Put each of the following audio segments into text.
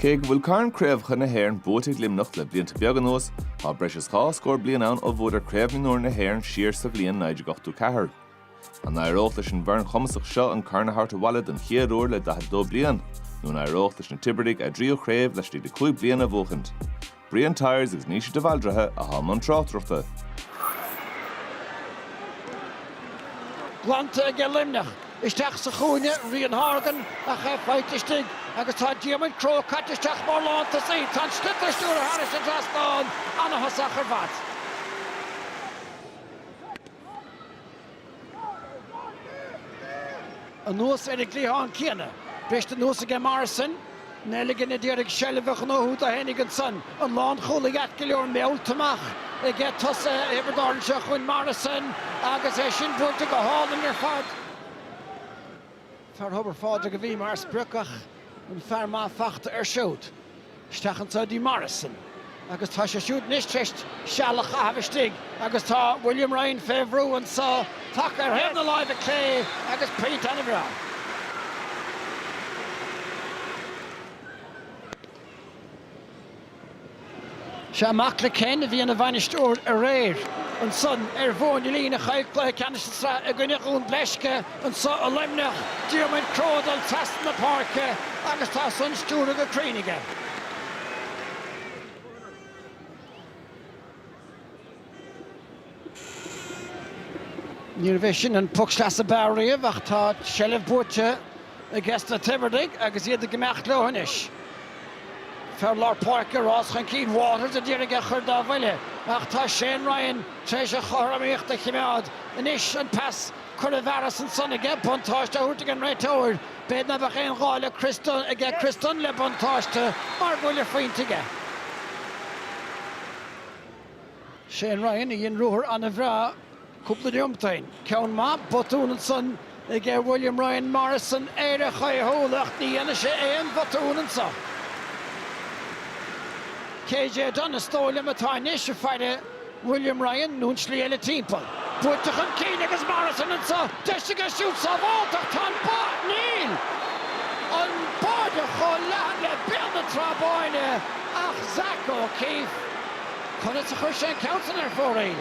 Cé go bhfuil carn craobhacha na hÉireann buaite ag Luimneach le blianta beaga anuas, tá breis is dhá scór bliain ann ó bhuadar Craobh Mhionúir na hÉireann siar sa bhliain 1984. An n-éireodh leis an bhfoireann chumasach seo an corn a thabhairt abhaile don chéad uair le 42 bliain, nó an éireodh leis na Tiobradaigh a dtríú craobh laistigh de chúig bliana a bhuachaint? Brian Tyers agus Naoise De Bhaldraithe a shann an tráchtaireachta. Glanta aige Luimneach. Isteach sa chúinne Rian Horgan ach é faighte istigh agus tá Diarmuid Crowe caite isteach mar lántosaí. Tá an sliotar stiúrtha thairis an trasnán ana-thosach ar fad. Anuas ar an gcliathán céanna, briste anuas aige Morrison, Nelligan a d'iarraidh seilbh a ghnóthú dó féinig ansan an lánchúlaí ait go leor meallta amach aige tosaithe Thiobraid Árann seo chugainn, Morrison agus é sin buailte go hálainn ar fad. Fear Thobar Phádraig a bhí mar sprioc ach an fear maith fachta air siúd. Isteach anso ag Morrison agus tá sé siúd anois tar éis seal a chaitheamh istigh agus tá William Ryan fé bhrú anso, taca ar thaobh na láimhe clé agus pointe ana bhreá. Sea, mac le Ken a bhí ina bhainisteoir aréir ansan ar Mhóin a' Lín a chaill cluiche ceannais na sraithe i gcoinne Dhún Bleisce anso i Luimneach, Diarmaid Crowe ag dul trasna na páirce agus tá san stiúrtha go cruinn aige. Níorbh é sin an poc sleasa ab fhearr riamh ach tá seilbh buaite aiges na Tiobradaigh agus iad ag imeacht leo anois. Fear lár páirce, rás chun cinn Watters a d'iarraidh a chur dá bhuille ach tá Shane Ryan tar éis a chothromaíocht a chimeád anois. An pas curtha i bhfearas ansan aige, buntáiste á thabhairt ag an réiteoir. B'fhéidir ná beadh aon ghá le Chris Dunne aige, Chris Dunne le buntáiste mar go bhfuil a phointe aige. Shane Ryan a dhein ruathar an-bhreá cúpla neomat ó shin. Ceann maith, botún ansan ag William Ryan Morrison, ar a chaothúlacht, ní dhéanfaidh sé aon bhotún anso. KJ Dunne is dóigh liom atá anois ag faire William Ryan nó an slí eile timpeall. Buailte chun cinn agus Morrison anso, deis aige siúd sábhálta ach tá an bá, níl! An bata chomh leathan le bearna Trá Báine ag Zach O'Keeffe. Conas a chuir sé an ceann san ar fóraoil?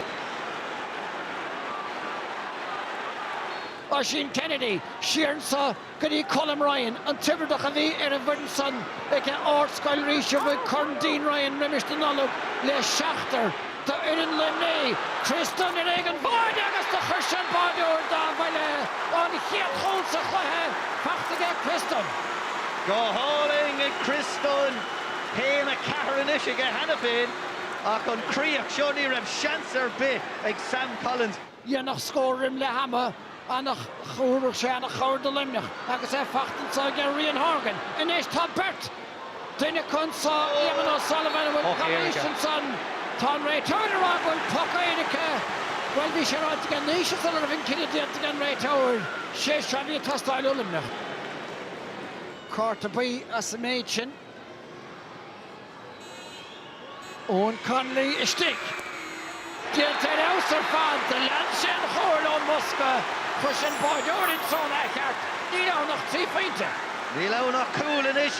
Oisín Kennedy, siar anso go dtí Colm Ryan, an Tiobraideach a bhí ar an bhfoireann san aige Ardscoil Rís a bhuaigh Corn Dean Ryan roimis na Nollag le seachtar d'fhoireann Luimnigh. Tristan ar éigean báide agus do chuir sé an báireoir dá bhuille, an chéad chúl sa chluiche faighte aige Tristan. Go hálainn ag Tristan. Aon a ceathair anois aige cheana féin ach an chríoch seo ní raibh seans ar bith ag Sam Collins. dhéanfadh scór roim leath ama ana thabharfadh sé ana chabhair do Luimneach agus é faighte anso aige Rian Horgan. Anois tá beirt duineacha anso Eamonn O Sullivan a bhfuil poc éirice ansan tá an réiteoir á rá go bhfuil poc éirice bhuel bhí sé ráite aige anois a sula raibh an cinneadh déanta aige an réiteoir sé seo a bhí ag teastáil ó Luimneach. Cárta buí as an méid sin. Owen Connolly istigh. Déanta ar fheabhas ar fad, lean sé an cháil ón mbosca, chuir sé an báireoir ins zón athcheart, níl ann ach trí phointe. Níl ann ach cúl anois.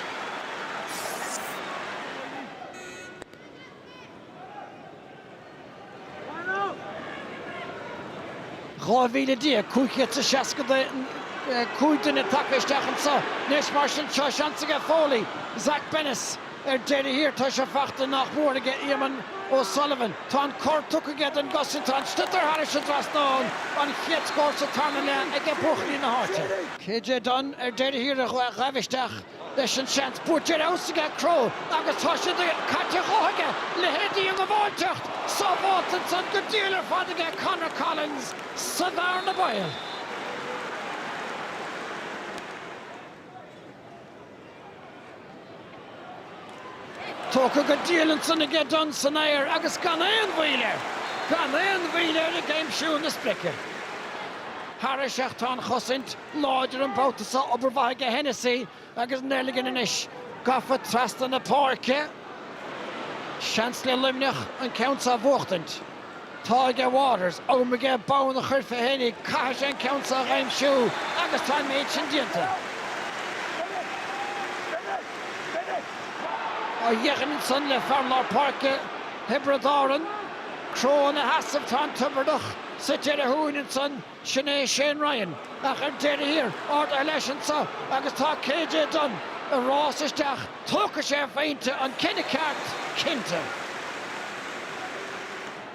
12,565 duine tagtha isteach anseo anois, mar sin seo seans aige Foley, Zach Bennis ar deireadh thiar, tá sé faighte nach mór aige Éamonn O'Sullivan. Tá an cor tugtha aige don gcosaint, tá an sliotar thairis an dtrasnán, an chéad scór sa tarna leath aige buachaillí na háite. KJ Dunne ar deireadh thiar a ghabh isteach. leis an seans buaite ar fheabhas aige Crowe agus tá sé caite dhó aige. Le Heney ag gabháilt isteach sábháilte ansan go diail ar fad aige Conor Collins sa bhearna bhaoil. Tógtha go diail ansan aige Dunne san aer agus gan aon mhoill air, gan aon mhoill air ag aimsiú na sprice. Thairis ach tá an chosaint. láidir an babhta seo, obair mhaith aige Hennessy agus Nelligan anois gafa trasna na páirce. Seans le Luimneach an ceann seo a bhuachtaint. Tá aige Waters, am aige bonn a chur fé Heney, caithfidh sé an ceann seo a aimsiú agus tá an méid sin déanta. Má theipeann ansan le fear lár páirce Thiobraid Árann, Crowe ina sheasamh, tá an Tiobraideach suite ar a thóin ansan. Sin é Shane Ryan ach ar deireadh thiar, ardaithe leis anso agus tá KJ Dunne ag rás isteach, tógfaidh sé a phointe, an cinneadh ceart, cinnte.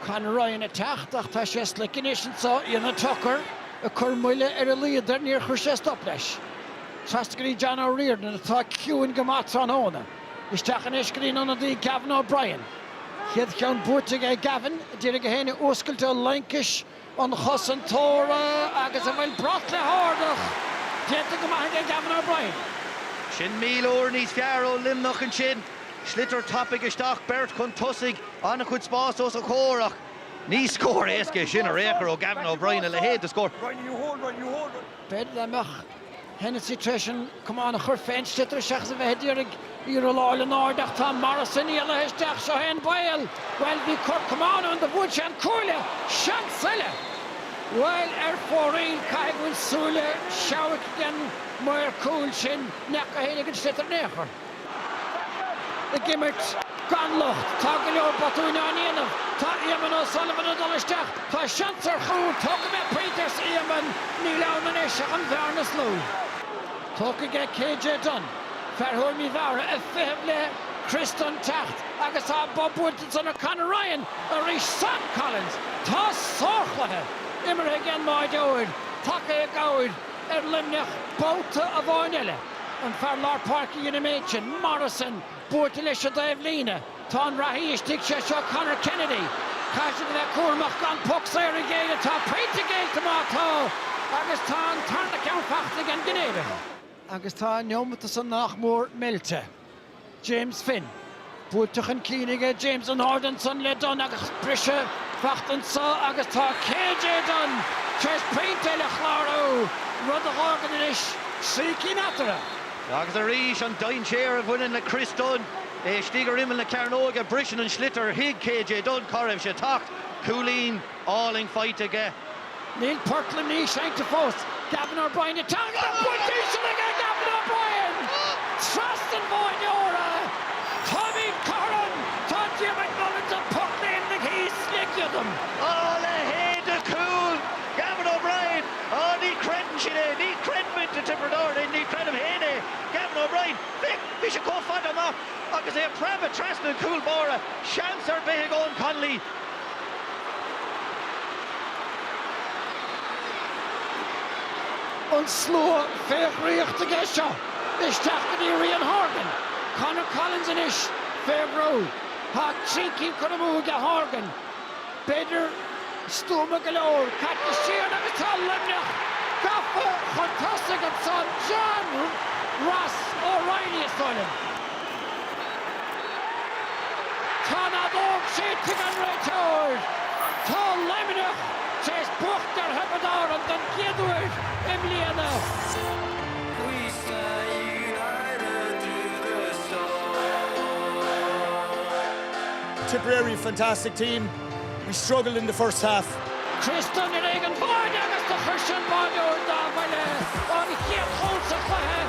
Conor Ryan ag teacht ach tá sé slick anois anso, Éanna Tucker ag cur moille ar a laghad air, níor chuir sé stop leis. Trasna go dtí John O'Riordan, atá ciúin go maith tráthnóna, isteach anois go dtí an ionadaí Gavin O'Brien. Chéad cheann buaite aige ag Gavin, a d'iarraidh é féin a fhuascailt ó laincis, an chosantóra agus an bhfuil brat le hardach déanta go maith aige Gavin O'Brien. Sin míle uair níos fearr ó Luimneach ansin. Sliotar tapaidh isteach, beirt chun tosaigh, an-chuid spás os a chomhair ach ní scór éasca é sin ar aon chor ó Gavin O'Brien, a leithéid de scór. B'fhéidir dá mbeadh Hennessy tar éis an camán a chur fén sliotar seachas a bheith ag iarraidh í rolláil in airde ach tá Morrison éalaithe isteach, seo é an baol! Bhuel, bhí cor camáin ann do bhuail sé an cuaille! Seans eile! Bhuel, ar fóraoil, caithfidh go bhfuil súile seabhaic ag an maor cúil sin, ní fhaca éinne an sliotar in aon chor. Ag imirt gan locht. Tá go leor botúin á ndéanamh. Tá Éamonn O'Sullivan ag dul isteach. Tá seans ar chúl. Tógfaidh mé pointe arsa Éamonn. Níl ann anois ach an bhearna is lú. Tógtha aige KJ Dunne, fear Thuaim Uí Mheára, ag feitheamh le Chris Dunne teacht agus tá an bob buailte ag Dunne ar Conor Ryan arís. Sam Collins! Tá sárchluiche imeartha ag an mbáireoir. Tagtha i gcabhair. ar Luimneach babhta amháin eile. An fear lár páirce a dhein an méid sin, Morrison, buailte leis an dtaobh líne. Tá an reathaí istigh, sé seo Conor Kennedy. Caithfidh siad a bheith cúramach gan poc saor a ghéilleadh. Tá pointe géillte má tá agus tá an tarna ceann faighte ag an gCinnéideach. Agus tá an neomat san nach mór meilte. James Finn. Buailte chun cinn aige James an-ard ansan le Dunne agus briseadh beacht anso agus tá KJ Dunne tar éis pointe eile a chlárú, rud a dh'fhágann anois trí cinn eatarthu. Agus arís an dainséar a bhaineann le Chris Dunne. É istigh ar imeall na cearnóige, briseann an sliotar, thuig KJ Dunne cá raibh sé ag teacht, cúilín, álainn faighte aige. Níl port Luimnigh seinnte fós. Gavin O'Brien ag teannadh don phointe íseal aige Gavin O'Brien! Trasna an bháireora! Táimid cothrom! Tá Diarmuid Mullins ag pocléimnigh thíos le giodam. A leithéid de chúl! Gavin O'Brien, Á ní chreideann siad é, ní chreideann muintir Thiobraid Árann, ní chreidim féin é! Gavin O'Brien, Féach, bhí sé chomh fada amach agus é ag preabadh trasna an chúl báire, seans ar bith ag Eoin Connolly. an slua fé dhraíocht aige seo isteach go dtí Rian Horgan. Conor Collins anois fé bhrú. Tá trí cinn curtha amuigh aige Horgan. Peileadóir stuama go leor. Caite siar agus tá Luimneach gafa chun tosaigh ansan. John Ross O'Reilly is dóigh liom. Tá an fheadóg séidte ag an réiteoir. Tá Luimneach tar éis buachaint ar Thiobraid Árann don chéad uair i mbliana. Tipperary fantastic team. We struggled in the first half. Chris Dunne i mbéal an bháire agus do chuir sé an báireoir dá bhuille, an chéad chúl sa chluiche.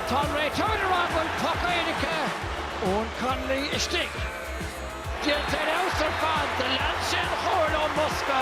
Tá an réiteoir ag rá go bhfuil poc éirice, Eoin Connolly istigh. Díoltar ar fheabhas ar fad. Lean sé an chóir ón mbosca.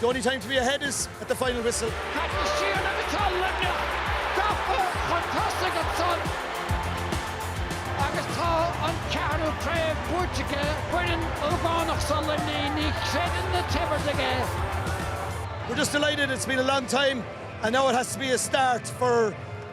The only time to be ahead is at the final whistle. Caite siar aige is tá Luimneach gafa chun tosaigh ansan agus tá an ceathrú craobh buaite aige foireann ógánach seo Luimnigh ní chreideann na Teamhairdigh é. We're just delighted it's been a long time and now it has to be a start for.